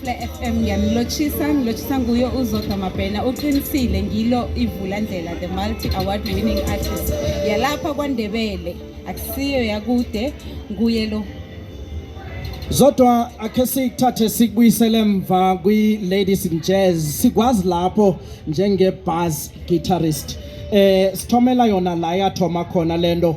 Fle FM ngiyamlotshisa ngilotshisa nguyo uZodwa Mabhena uqinisile ngilo ivula ndlela the multi award winning artist yalapha kwaNdebele akusiyo yakude nguye lo Zodwa akhe sikuthathe sikubuyisele emva kwi Ladies in Jazz sikwazi lapho njenge bass guitarist eh sithomela yona la yathoma khona lento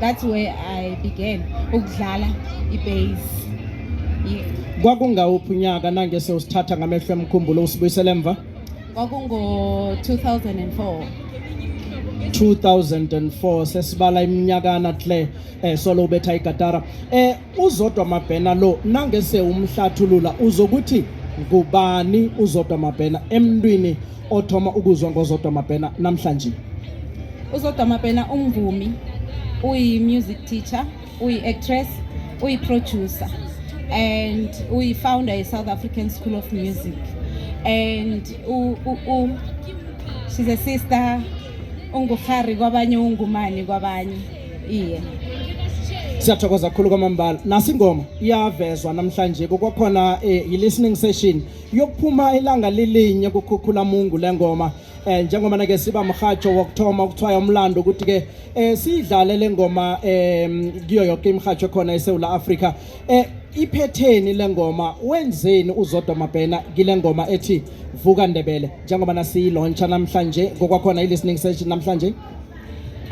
that's where i began ukudlala ibass yeah. kwakungawuphi unyaka nange sewusithatha ngamehlo emkhumbulo usibuyisele emva kwakungo-2004 2004 sesibala iminyakana hle eh solo ubetha igatara eh uzodwa mabhena lo nangese umhlathulula uzokuthi ngubani uzodwa mabhena emntwini othoma ukuzwa ngozodwa mabhena namhlanje uzodwa mabhena umvumi uyi-music teacher uyi-actress uyi-producer and uyi-founder ye-south african school of music and u, u, u, she's a sister unguhari kwabanye ungumani kwabanye iye yeah. siyathokoza kakhulu kwamambala nasi ingoma iyavezwa namhlanje kwakhona eh, yi-listening session yokuphuma ilanga lilinye kukhukhula mungu lengoma eh njengoba nake siba mhajo wokthoma ukuthiwa umlando ukuthi ke eh sidlale lengoma eh kuyo yonke imhajo khona eSouth Africa eh iphetheni lengoma wenzeni uzodwa mabhena kile ngoma ethi vuka ndebele njengoba nasiyi launch namhlanje kokwakhona i listening session namhlanje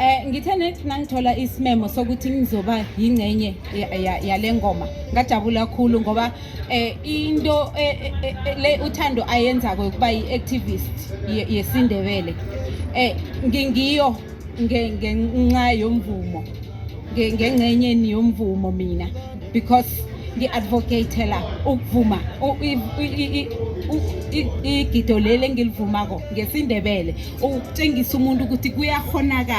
Eh ngithe nethi nangithola isimemo sokuthi ngizoba yingcenye yale ngoma ngajabula kakhulu ngoba eh into eh, eh, eh, le uthando ayenza kokuba yiactivist yesindebele eh ngingiyo ngenxa yomvumo ngencenyeni yomvumo mina because ngi-advocatela ukuvuma igido leli engilivumako ngesindebele ukutshengisa umuntu ukuthi kuyakhonakala